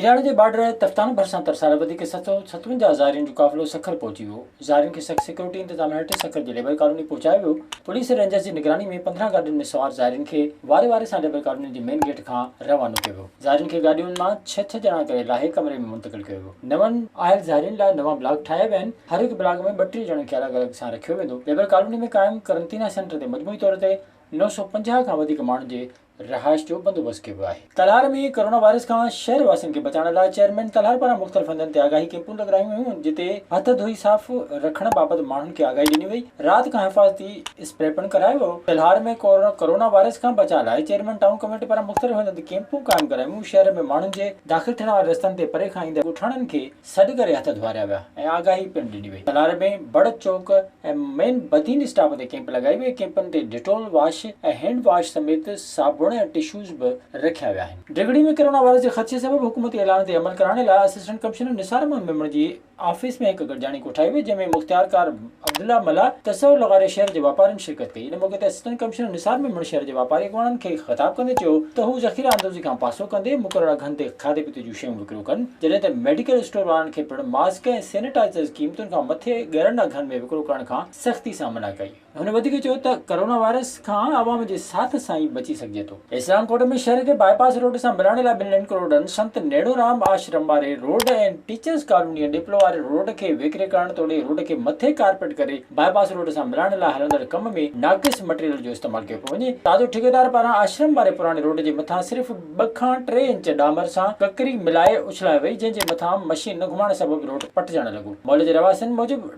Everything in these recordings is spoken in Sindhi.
ايراڻ جي بارڊر تفتان ڀرسان ترسارا وڌيڪ ست سئو ستونجاهه زائرين جو قافلو سکر پهچي ويو، زائرين کي سخت سيڪيورٽي انتظامن هيٺ سکر جي ليبر ڪالوني پهچايو ويو، پوليس رينجرز جي نگراني ۾ پندرهن گاڏين ۾ سوار زائرين کي واري واري سان ليبر ڪالوني جي مين گيٽ کان روانو ڪيو ويو، زائرين کي گاڏين مان ڇهه ڇهه ڄڻا ڪري لاهي ڪمري ۾ منتقل ڪيو ويو، نون آيل زائرين لاء نوان بلاڪ ٺاهيا ويا آهن، هر هڪ بلاڪ ۾ ٻه ٽي ڄڻن کي الڳ الڳ سان رکيو ويندو، ليبر ڪالوني ۾ قائم قرنطينه سينٽر تي مجموعي طور تي نو سؤ پنجاهه کان وڌيڪ ماڻهن جي رهائش جو بندوبست ڪيو ويو آهي. ڪلهار ۾ ڪورونا وائرس کان شهر واسين کي بچائڻ لاء چيئرمين ڪلهار پاران مختلف هنڌن تي آگاهي ڪيمپون لڳرايون ويون جتي هٿ ڌوئي صاف رکڻ بابت ماڻهن کي آگاهي ڏني وئي رات کان حفاظتي اسپري پڻ ڪرايو ويو. ڪلهار ۾ ڪورونا وائرس کان بچاء لاء چيئرمين ٽائون ڪميٽي پاران مختلف هنڌن تي ڪيمپون قائم ڪرايون ويون شهر ۾ ماڻهن جي داخل ٿيڻ وارن رستن تي پري کان ايندڙ ڳوٺاڻن کي سڏ ڪري هٿ ڌوئاريا ويا ۽ آگاهي پڻ ڏني وئي. تلار ۾ بڙ چوڪ ۽ مين بدين اسٽاپ تي ڪيمپ لڳائي وئي، ڪيمپن تي ڊيٽول واش ۽ هينڊ واش سميت صابڻ ۽ ٽشوز به رکيا ويا آهن. ڊگهڙي ۾ ڪرونا وائرس جي خدشي سبب حڪومتي اعلان تي عمل ڪرائڻ لاء اسسٽنٽ ڪمشنر نثار احمد ميمڻ جي آفيس ۾ هڪ گڏجاڻي ڪوٺائي وئي جنهن ۾ مختيارڪار، عبدالله ملاح تصور لغاري شهر جي واپارين شرڪت ڪئي، ان موقعي تي اسسٽنٽ ڪمشنر نثار ميمڻ شهر جي واپاري اڳواڻن کي خطاب ڪندي چيو ته هو ذخيره اندوزي کان پاسو ڪندي مقرر اگهن تي کاڌي پيتي جون شيون وڪرو ڪن جڏهن ته ميڊيڪل اسٽور وارن کي پڻ ماسڪ ۽ سينيٽائيزرز قيمتن کان مٿي ڳرن اگهن ۾ وڪرو ڪرڻ کان سختي سان منع ڪئي. هن وڌيڪ چيو ته ڪرونا وائرس کان عوام جي ساٿ سان ئي بچي سگهجي ٿو. اسلام ڪوٽ ۾ شهر کي باء پاس روڊ سان ملائڻ لاء ٻن لين ڪروڙن، سنت نيڻورام آشرم واري روڊ ۽ ٽيچرز ڪالونيء ڏيپلو واري روڊ کي ويڪري ڪرڻ توڙي روڊ کي مٿي ڪارپيٽ ڪري باء پاس روڊ سان ملائڻ لاء هلندڙ ڪم ۾ ناقص مٽيريل جو استعمال ڪيو پيو وڃي. تازو ٺيڪيدار پاران آشرم واري پراڻي روڊ جي مٿان صرف ٻه کان ٽي انچ ڏامر سان ڪڪري ملائي اڇلائي وئي جنهن جي مٿان مشين نه گهمائڻ سبب روڊ پٽجڻ لڳو. محلي جي رهواسين موجب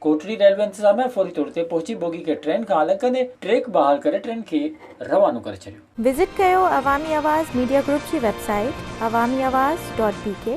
ڪوٽڙي ريلوي انتظاميا فوري طور تي پهچي بوگي کي ٽرين کان الڳ ڪندي ٽريڪ بحال ڪري ٽرين کي روانو ڪري ڇڏيو. وزٽ ڪيو عوامي آواز ميڊيا گروپ جي web site Awami Awaz dot بي ڪي.